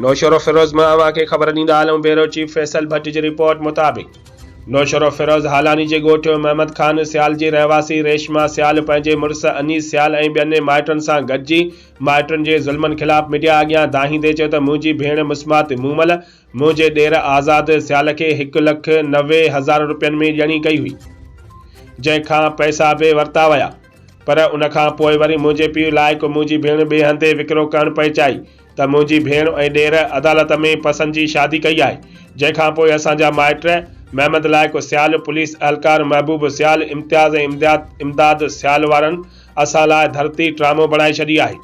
نوشهروفيروز مان اوهان کي خبر ڏيندا هلون بيورو چيف فيصل ڀٽ جي رپورٽ مطابق نوشهروفيروز هالاني جي ڳوٺ محمد خان سيال جي رهواسي ريشما سيال پنهنجي مڙس انيس سيال ۽ ٻين مائٽن سان گڏجي مائٽن جي ظلمن خلاف ميڊيا اڳيان دانهيندي چيو ته منهنجي ڀيڻ مسمات مومل منهنجي ڏير آزاد سيال کي هڪ لک نوي هزار رپين ۾ ڄڻي ڪئي هئي جنهن کان پئسا به ورتا ويا پر ان کان پوء وري منهنجي پيء لائق منهنجي ڀيڻ ٻئي هنڌي وڪرو ڪرڻ پئي چاهي ته منهنجي ڀيڻ ۽ ڏير عدالت ۾ پسند جي شادي ڪئي آهي، جنهن کان پوء اسان جا مائٽ محمد لائق سيال، پوليس اهلڪار محبوب سيال، امتياز ۽ امداد امداد سيال وارن اسان لاء ڌرتي ٽرامو بڻائي ڇڏي آهي.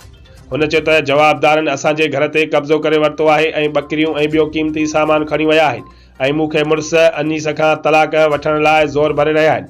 هن چيو ته جوابدارن اسان جي گهر تي قبضو ڪري ورتو آهي ۽ ٻڪريون ۽ ٻيو قيمتي سامان کڻي ويا آهن ۽ مون کي مڙس انيس کان طلاق وٺڻ لاء زور ڀري رهيا آهن،